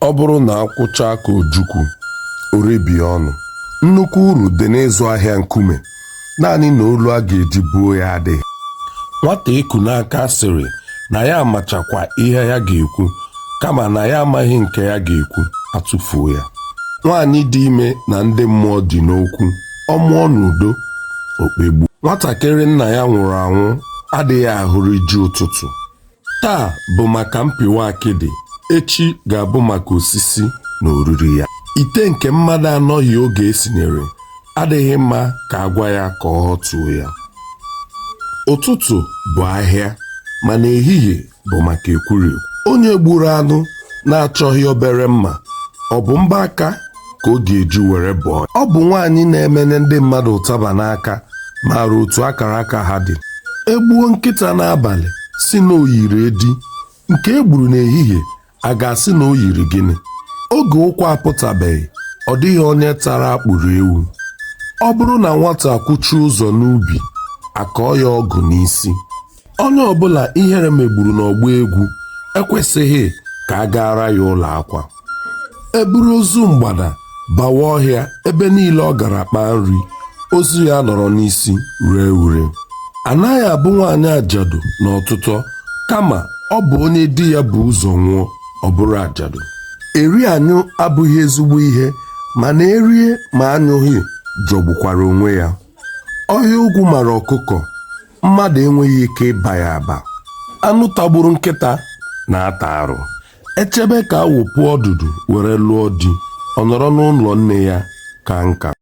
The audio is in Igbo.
Ọ bụrụ na akwụ chaa ka ojukwu, o rebie ọnụ. Nnukwu uru dị n'ịzụ ahịa nkume, naanị na olu a ga-eji buo ya adịghị. Nwata e ku n'aka sịrị na ya amachakwa ihe ya ga-ekwu kama na ya amaghị nke ya ga-ekwu, a tụfuo ya. Nwaanyị dị ime na ndị mmụọ dị n'okwu, ọ mụọ n'udo, o kpegbuo. Nwatakịrị nna ya nwụrụ anwụ adịghị ahụrụ ji ụtụtụ. Taa bụ maka mpịwa akịdị, echi ga-abụ maka osisi na oriri ya. Ite nke mmadụ anọghị oge e sinyere adịghị mma ka a gwa ya ka ọ họtuo ya. Ụtụtụ bụ ahịa mana ehihie bụ maka ekwurekwu. Onye gburu anụ na-achọghị obere mma, ọ bụ mbọ aka ka ọ ga-eji were bọọ ya ọ bụ nwaanyị na-emenye ndị mmadụ ụtaba n'aka maara otu akara aka ha dị e gbuo nkịta n'abalị sị na o yiri edi nke e gburu n'ehihie a ga-asị na o yiri gịnị oge ụkwa apụtabeghị ọ dịghị onye tara akpụrụ ewu ọ bụrụ na nwata kwụchie ụzọ n'ubi a kọọ ya ọgụ n'isi onye ọbụla ihere megburu n'ọgbọ egwu ekwesịghị ka a gaara ya ụlọ akwa e buru ozu mgbada bawa ọhịa ebe niile ọ gara kpaa nri ozu ya anọrọ n'isi ree ure anaghị abụ nwaanyị ajadu n'ọtụtụ kama ọ bụ onye di ya bu ụzọ nwụọ ọ bụrụ ajadu eri anyụ abụghị ezigbo ihe mana e rie ma anyụghị jọgbukwara onwe ya ọhịa ogwu mara ọkụkọ mmadụ enweghị ike ịba ya aba anụ tagburu nkịta na-ata arụ e chebe ka awọ puo ọdụdụ were lụọ di ọ nọrọ n'ụlọ nne ya kaa nka